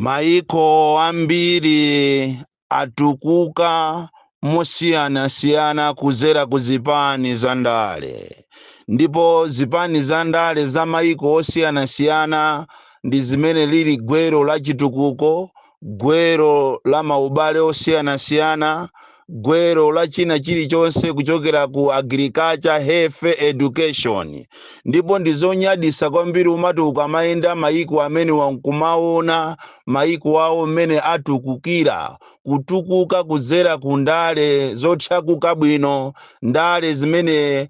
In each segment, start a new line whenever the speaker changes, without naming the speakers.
Maiko ambiri atukuka mosiyanasiyana kudzera ku zipani za ndale, ndipo zipani za ndale za maiko osiyanasiyana ndi zimene zili gwero la chitukuko gwero la maubale osiyanasiyana, gwero la china chilichonse kuchokera ku agriculture, health, education. Ndipo ndi zonyadisa kwambiri umati ukamayenda mayiko amenewa nkumaona mayiko awo mmene atukukira, kutukuka kudzera ku ndale zochakuka bwino, ndale zimene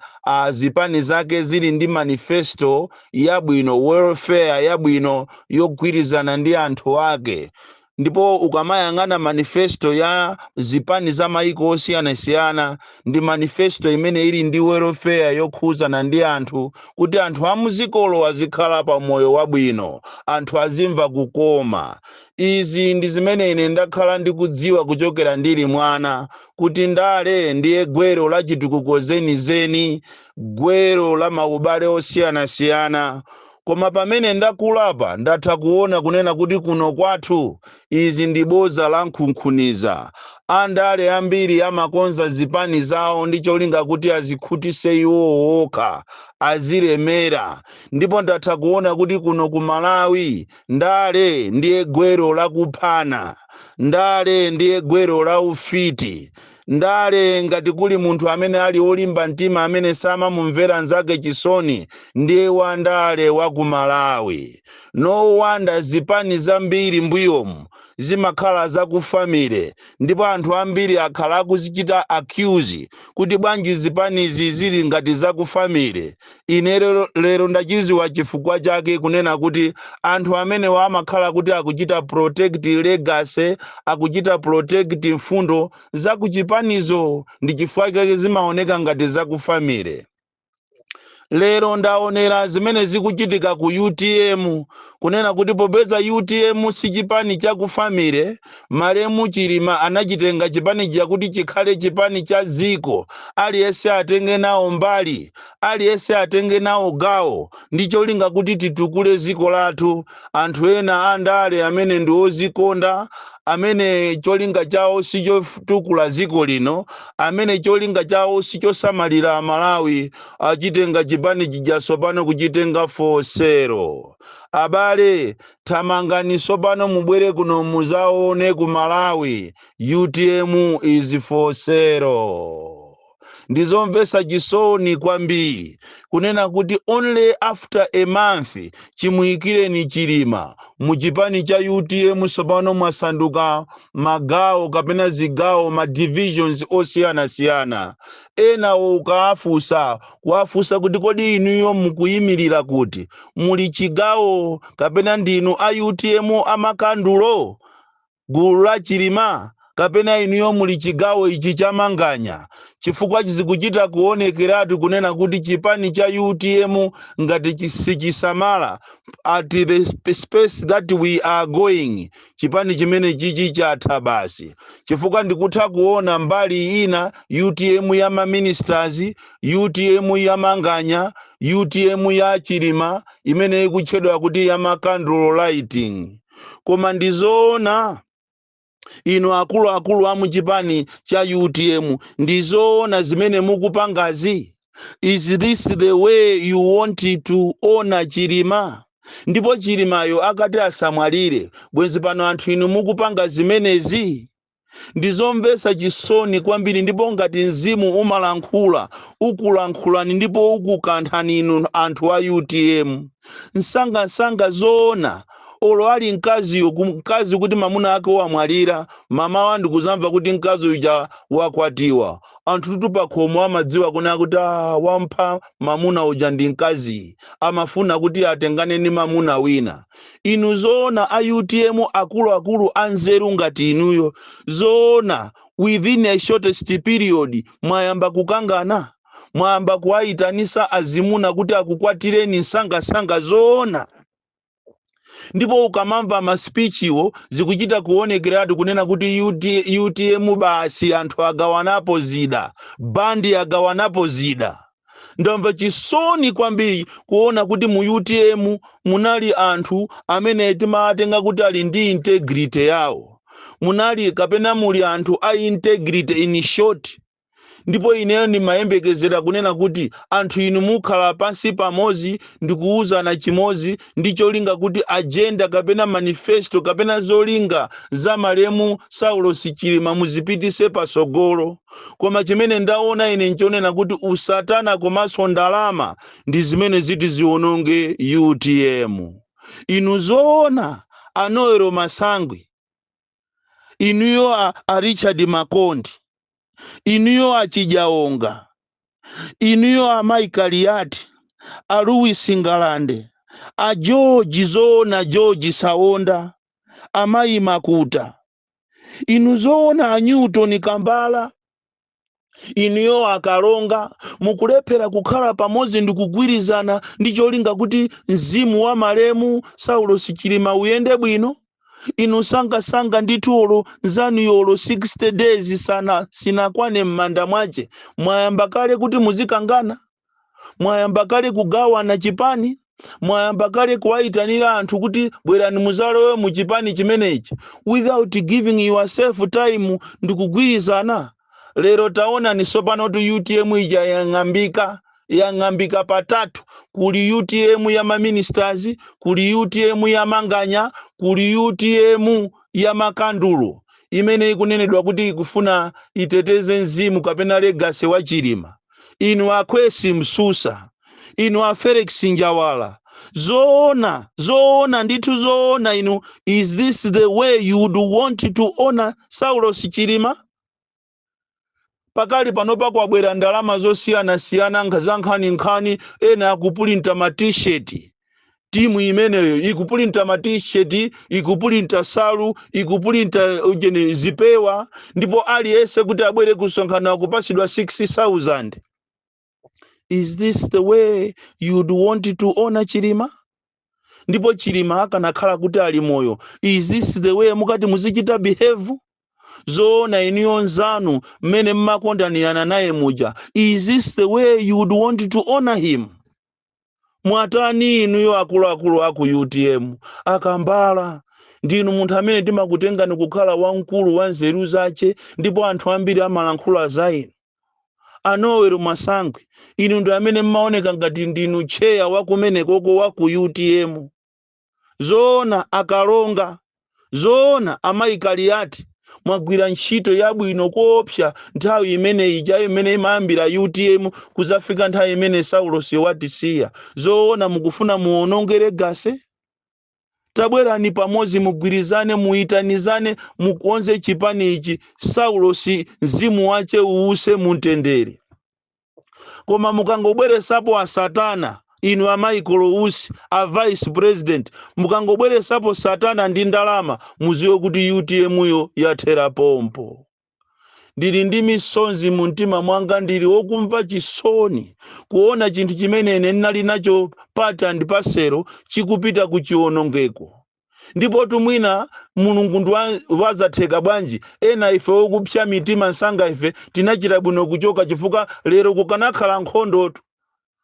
zipani zake zili ndi manifesto yabwino welfare yabwino yogwirizana ndi anthu ake ndipo ukamayang'ana manifesto ya zipani za maiko osiyanasiyana ndi manifesto imene ili ndi welfare yokhuzana ndi anthu kuti anthu amuzikolo azikhala pa moyo wabwino anthu azimva kukoma izi ndi zimene ine ndakhala ndikudziwa kuchokera ndili mwana kuti ndale ndiye gwero la chitukuko chenicheni gwero la maubale osiyanasiyana. Koma pamene ndakulapa ndatha kuona kunena kuti kuno kwathu izi ndi boza la nkhunkhuniza. Andale ambiri amakonza zipani zawo ndi cholinga kuti azikhutise iwowo okha, azilemera. Ndipo ndatha kuona kuti kuno ku Malawi ndale ndiye gwero la kuphana. Ndale ndiye gwero la ufiti. ndale ngati kuli munthu amene ali olimba mtima amene samamumvera nzake chisoni ndiye wandale wa ku malawi no wonder zipani zambiri mbuyomu zimakhala za ku family ndipo anthu ambiri akhala akuzichita accuse kuti bwanji zipanizi zili ngati za ku family Ine lero ndachiziwa chifukwa chake kunena kuti anthu amenewa amakhala kuti akuchita protect legacy, akuchita protect mfundo za ku chipanizo ndi chifukwa chake zimaoneka ngati za ku family. Lero ndaonera zimene zikuchitika ku utm kunena kuti popeza utm si chipani cha ku family, malemu Chilima anachitenga chipani chakuti chikhale chipani cha dziko, aliyense atenge nawo mbali. Aliyense atenge nawo gawo ndi cholinga kuti titukule dziko lathu. Anthu ena a ndale amene ndi odzikonda, amene cholinga chawo si chotukula dziko lino, amene cholinga chawo si chosamalira Amalawi, achitenga chipani chija tsopano kuchitenga for sale. Abale, thamangani tsopano mubwere kuno mudzaone ku Malawi, utm is for sale. ndi zomvetsa chisoni kwambiri kunena kuti only after a month chimuyikireni chilima mu chipani cha utm tsopano mwasanduka magawo kapena zigawo ma divisions osiyanasiyana enawo ukawafunsa kuwafunsa kuti kodi inuyo mukuyimirira kuti muli chigawo kapena ndinu a utm amakandulo gulu la chilima kapena inuyo muli chigawo ichi cha manganya chifukwa chizikuchita kuonekeratu kunena kuti chipani cha utm ngati chi- sichisamala at the sp- space that we are going chipani chimene chichi chatha basi chifukwa ndikutha kuona mbali ina utm ya maministers utm ya manganya utm ya chilima imene ikutchedwa kuti ya makandulo lighting koma ndi zoona inu akuluakulu a muchipani cha utm ndi zoona zimene mukupangazi is this the way you want to honour chilima ndipo chilimayo akati asamwalire bwenzi pano anthu inu mukupanga zimenezi Ndi zomvetsa chisoni kwambiri, ndipo ngati mzimu umalankhula, ukulankhulani ndipo ukukanthani inu anthu a utm. Msangamsanga zoona? Olo ali mkaziyo, mkazi kuti mamuna ake wamwalira, mamawa ndikuzamva kuti mkazi uja wakwatiwa. Anthutu pakhomo amadziwa kunena kuti aah wampha mamuna uja ndi mkaziyi, amafuna kuti atengane ndi mamuna wina. Inu zoona a utm akulu akulu a nzeru ngati inuyo zoona within a shortest period mwayamba kukangana? Mwayamba kuwaitanisa azimuna kuti akukwatireni msangamsanga zoona? Ndipo ukamamva ma speech-wo zikuchita kuonekeratu kunena kuti utm basi anthu agawanapo zida, band agawanapo zida. ndamva chisoni kwambiri kuona kuti mu utm munali anthu amene timawatenga kuti ali ndi integrity yawo munali kapena muli anthu a integrity in short ndipo ineyo ndimayembekezera kunena kuti anthu inu mukhala pansi pamodzi ndikuwuzana chimodzi ndi cholinga kuti agenda kapena manifesto kapena zolinga za malemu Saulos Chilima muzipitise patsogolo. Koma chimene ndaona ine nchonena kuti usatana komanso ndalama ndi zimene ziti ziononge utm. Inu zoona a Noel Masangwi? inuyo a, a richard makondi inuyo achi njawala inuyo a mai kaliati a louis ngalande a george zoona george saonda amayi makuta inu zoona a newton kambala inuyo akalonga mukulephera kukhala pamodzi ndi kugwirizana ndi cholinga kuti mzimu wa malemu saulos chilima uyende bwino inu msangamsanga ndithu olo nzanuyo olo 60 days sana sinakwane m'manda mwache mwayamba kale kuti muzikangana mwayamba kale kugawana chipani mwayamba kale kuwayitanira anthu kuti bwerani muzalowe mu chipani chimenechi without giving yourself time ndikugwirizana lero taonani tsopano kuti utm ija yang'ambika patatu kuli utm ya maministers kuli utm ya manganya kuli utm ya makandulo imene ikunenedwa kuti ikufuna iteteze mzimu kapena legacy wa chilima inu a Khwesi Msusa, inu a Felix Njawala, zoona zoona ndithu zoona inu, is this the way you would want to honor Saulos Chilima? pakali panopa kwabwera ndalama zosiyanasiyana nkha- za nkhaninkhani ena akupulinta ma t-shirt timu imeneyo ikupulinta ma t-shirt ikupulinta nsalu ikupulinta ujeni zipewa ndipo aliyense kuti abwere kusonkhano akupasidwa 6000 is this the way you'd want to honor chilima ndipo chilima akanakhala kuti ali moyo is this the way mukati muzichita behave zoona inuyo nzanu mmene mmakondanirana naye muja is this the way you would want to honor him mwatani inuyo akuluakulu aku utm akambala ndinu munthu amene timakutengani kukhala wamkulu wa nzeru zache ndipo anthu ambiri amalankhula za inu a Noel Masangwi inu ndi amene mmaoneka ngati ndinu tcheya wakumenekoko wa ku utm zoona akalonga, zoona amayi Kaliati mwagwira ntchito yabwino koopsa nthawi imene ija imene imayambira utm kuzafika nthawi imene Saulosi watisiya, zoona mukufuna muononge legacy? Tabwerani pamodzi mugwirizane muitanizane mukonze chipani ichi Saulosi mzimu wache uuse mumtendere. koma mukangobweresapo asatana inu a Michael Usi a vice president mukangobweresapo satana ndi ndalama muziwe kuti utm yo yathera pompo ndili ndi misonzi mu mtima mwanga ndili wokumva chisoni kuona chinthu chimene ine ndinali nacho part and parcel chikupita ku chiwonongeko ndipotu mwina mulungu ndi wa- wazatheka bwanji ena ife okupsya mitima msanga ife tinachita bwino kuchoka chifukwa lero kukanakhala nkhondotu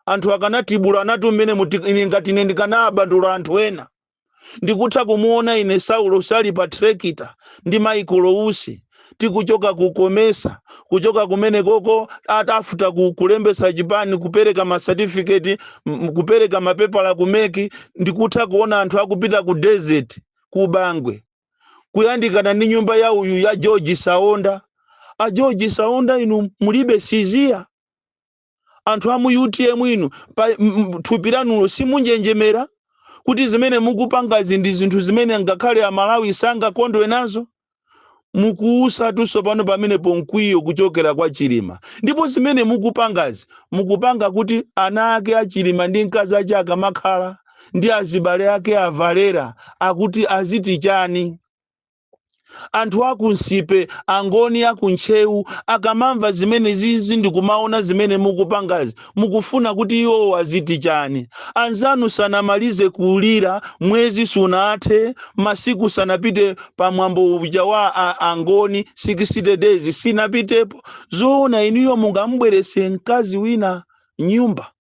anthu akanatibulanatu mmene muti- ine ngati ine ndikanawabandula anthu ena ndikutha kumuona ine saulos ali pa trekita ndi Michael Usi tikuchoka ku Comesa kuchoka kumene koko atafuta ku, kulembesa chipani kupereka ma certificate m- kupereka mapepala ku MEC ndikutha kuona anthu akupita ku desert ku bangwe kuyandikana ndi nyumba ya uyu ya george saonda a george saonda inu mulibe siziya anthu a mu utm inu pa m- m- thupi lanulo simunjenjemera kuti zimene mukupangazi ndi zinthu zimene ngakhale amalawi sangakondwe nazo mukuutsatunso pano pamenepo mkwiyo kuchokera kwa chilima ndipo zimene mukupangazi mukupanga kuti ana ake a chilima ndi mkazi ache akamakhala ndi azibale ake avalera akuti aziti chani anthu aku nsipe angoni aku ntcheu akamamva zimene zizi ndikumaona zimene mukupangazi mukufuna kuti iwowo aziti chani anzanu sanamalize kulira mwezi sunathe masiku sanapite pa mwambo uja wa a- angoni 60 days sinapitepo zoona inuyo mungamubwerese mkazi wina nyumba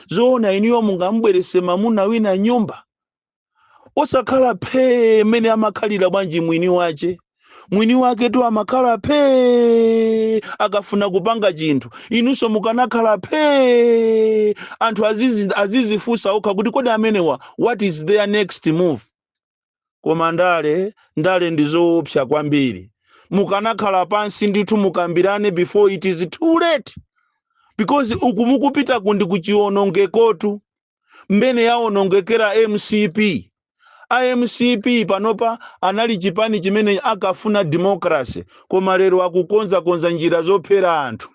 zoona inuyo mungamubwerese mamuna wina nyumba osakhala phee mmene amakhalira bwanji mwini wace mwini wake tu amakhala phee akafuna kupanga chinthu inunso mukanakhala phee anthu azizi- azizifunsa okha kuti kodi amenewa what is their next move koma ndale ndale ndi zoopsa kwambiri mukanakhala pansi ndithu mukambirane before it is too late because uku mukupita kundi kuchionongekotu mmene yawonongekera mcp a mcp panopa anali chipani chimene akafuna democracy koma lero akukonzakonza njira zophera anthu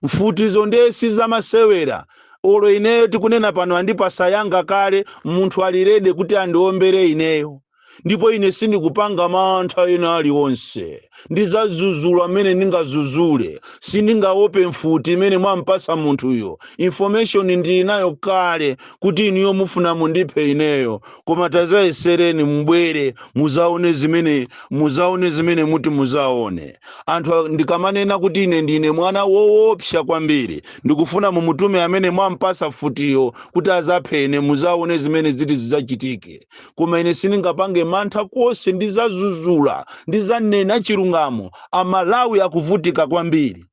mfutizo ndiye sizamasewera olo ineyo tikunena pano andipasa yanga kale munthu ali ready kuti andiombere ineyo ndipo ine sindikupanga mantha ena aliwonse ndizazuzula mmene ndingazuzule sindingaope mfuti imene mwampasa munthuyo information ndili nayo kale kuti inuyo mufuna mundiphe ineyo koma tazayesereni mubwere muzaone zimene muzaone zimene muti muzaone anthu a- ndikamanena kuti ine ndine mwana woopsa kwambiri ndikufuna mumutume amene mwampasa mfutiyo kuti azaphe ine muzaone zimene ziti zidzachitike koma ine sindingapange mantha konse ndizazuzula ndizanena chilungamo amalawi akuvutika kwambiri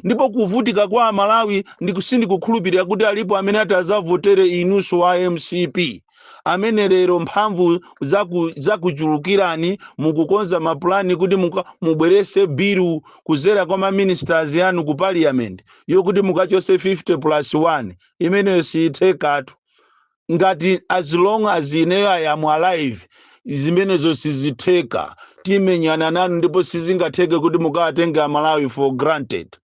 ndipo kuvutika kwa amalawi ndiku- sindikukhulupirira kuti alipo amene ati azavotere inunso wa mcp amene lero mphamvu zaku- zakuchulukirani mukukonza mapulani kuti muka- mubwerese bilu kuzera kwa maministers anu ku parliament yokuti mukachose 50 plus 1 imeneyo siyithekatu ngati as long as ineyo i am alive zimenezo sizitheka timenyana nanu ndipo sizingatheke kuti mukawatenge amalawi for granted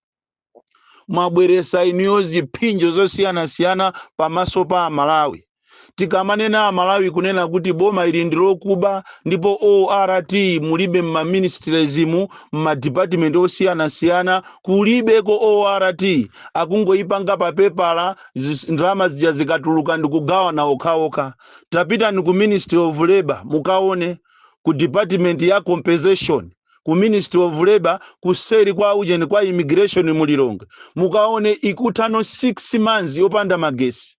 mwabweresa inuyo ziphinjo zosiyanasiyana pamaso pa amalawi tikamanena amalawi kunena kuti boma ili ndi lokuba ndipo ort mulibe mmaministriesmu mmadipatimenti osiyanasiyana kulibeko ort akungoyipanga papepala zis- ndalama zija zikatuluka ndikugawana okhaokha tapitani ku ministry of labor mukaone ku department ya compensation ku ministry of labor kuseri kwa ujeni kwa immigration mu lilongwe mukaone ikuthano 6 months yopanda magesi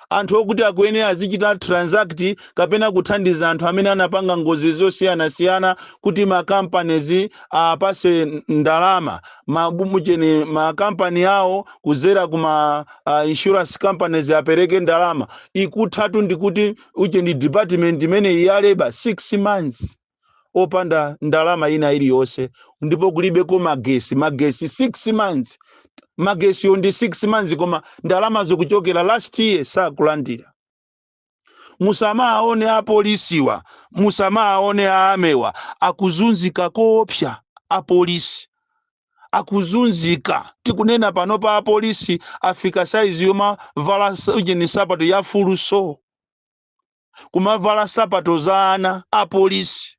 anthu okuti akuyene azichita transact kapena kuthandiza anthu amene anapanga ngozi zosiyanasiyana kuti makampanizi apase ndalama ma ujeni makampani awo kuzera kuma uh, insurance companies apereke ndalama ikuthatu ndikuti ujeni department imeneyi ya labor 6 months opanda ndalama ina iliyonse ndipo kulibeko magesi magesi 6 months magesiyo ndi 6 months koma ndalama zokuchokera last year sakulandira musamawaone apolisiwa musamawaone a army wa akuzunzika koopsa apolisi akuzunzika tikunena panopa apolisi afika saizi yomavala s- ujeni nsapato ya fulu so kumavala nsapato za ana apolisi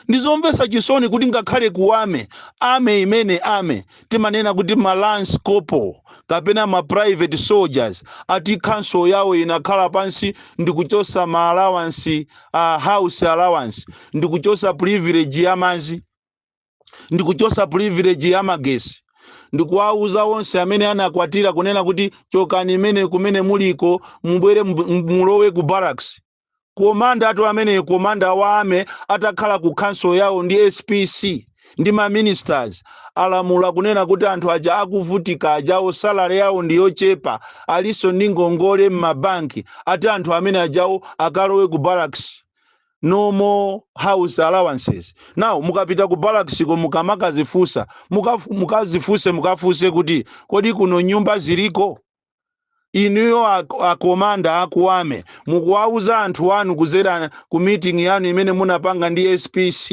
ndizomvesa chisoni kuti ngakhale ku army army imene army timanena kuti ma lance corporal kapena ma private soldiers ati council yawo inakhala pansi ndikuchosa ma allowance a house allowance ndikuchosa privilege ya mazi ndikuchosa privilege ya magesi ndikuwauza onse amene anakwatira kunena kuti chokani imene kumene muliko mubwere mu- mu- mulowe ku barracks Commandertu ameneyo commander wa army atakhala ku council yawo ndi SPC ndi ma ministers alamula kunena kuti anthu aja akuvutika ajawo salary yawo ndi yochepa alinso ndi ngongole mma bank ati anthu amene ajawo akalowe ku barracks no more house allowances now mukapita ku barracks ko mukamakazifunsa muka, mukazifunse mukafunse kuti kodi kuno nyumba ziliko inuyo akomanda a ku army mukuwauza anthu anu kuzera ku meeting yanu imene munapanga ndi spc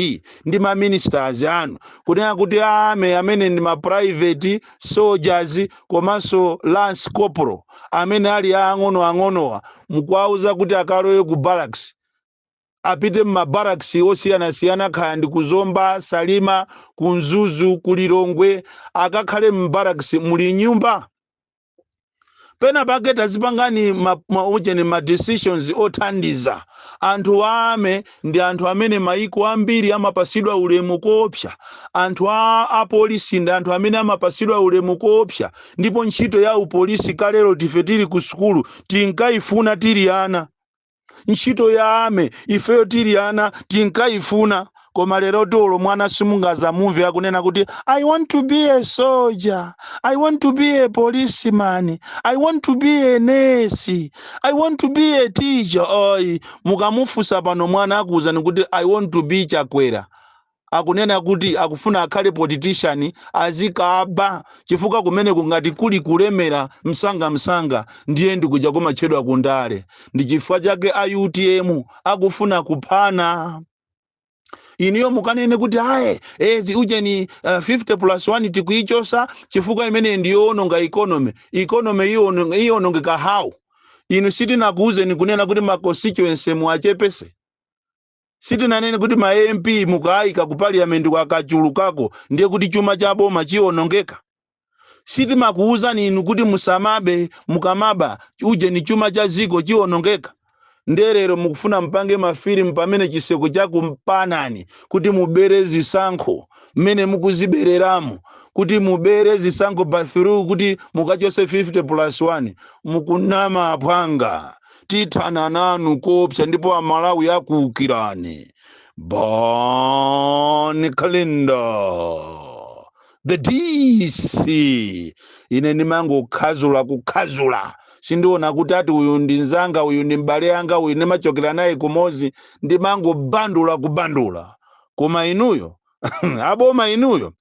ndi ma ministers anu kunena kuti a army amene ndi ma private soldiers komanso lance corporal amene ali aang'onoang'onowa mukuwauza kuti akalowe ku barracks apite mma barracks osiyanasiyana kaya ndi ku zomba, salima, ku mzuzu, ku lilongwe akakhale mu barracks muli nyumba? pena pake tazipangani ma, ma, ujeni ma decisions othandiza anthu a army ndi anthu amene maiko ambiri amapasidwa ulemu koopsa anthu a apolisi ndi anthu amene amapasidwa ulemu koopsa ndipo ntchito ya upolisi kalerotu ife tili ku sukulu tinkayifuna tili ana ntchito ya army ifeyo tili ana tinkayifuna koma lerotu olo mwana simungazamumve akunena kuti i want to be a soldier i want to be a policeman i want to be a nurse i want to be a teacher oyi mukamufunsa pano mwana akuwuzani kuti i want to be chakwera akunena kuti akufuna akhale politician azikaba chifukwa kumeneku ngati kuli kulemera msangamsanga ndiye ndikuja kumatchedwa kundale ndi chifukwa chake a utm akufuna kuphana inuyo mukanene kuti ayi eti ujeni uh, 50 plus 1 tikuichosa chifukwa imeneyi ndiyoononga economy economy iyono- iyonongeka how inu sitinakuuzeni kunena kuti ma constituency muwachepese Sitinanene kuti ma MP mukaayika ku parliament ko akachulukako ndiye kuti chuma cha boma chionongeka. Sitimakuuzani inu kuti musamabe, mukamaba ujeni chuma cha dziko chionongeka. Ndiye lero mukufuna mupange ma film pamene chiseko chakupanani kuti mubere zisankho mmene mukuzibereramu, kuti mubere zisankho by through kuti mukachotse 50 plus 1. Mukunama aphwanga. tithana nanu koopsa ndipo amalawi akuukirani bon kalindo the dc ine ndimangokhazula kukhazula sindiona kuti ati uyu ndi nzanga uyu ndi m'bale anga uyu ndimachokera naye kumozi ndimangobandula kubandula koma inuyo aboma inuyo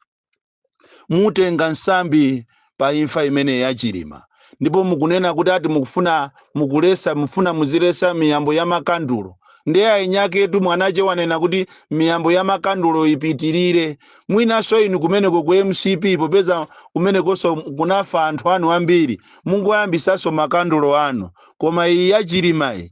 mutenga nsambi pa imfa imene ya chilima ndipo mukunena kuti ati mukufuna mukulesa mufuna muzilesa miyambo ya makandulo ndiye ainyaketu mwanache wanena kuti miyambo ya makandulo ipitirire mwinanso inu kumeneko ku mcp popeza kumenekonso kunafa anthu anu ambiri mungoyambisanso makandulo anu koma iyi ya chilimayi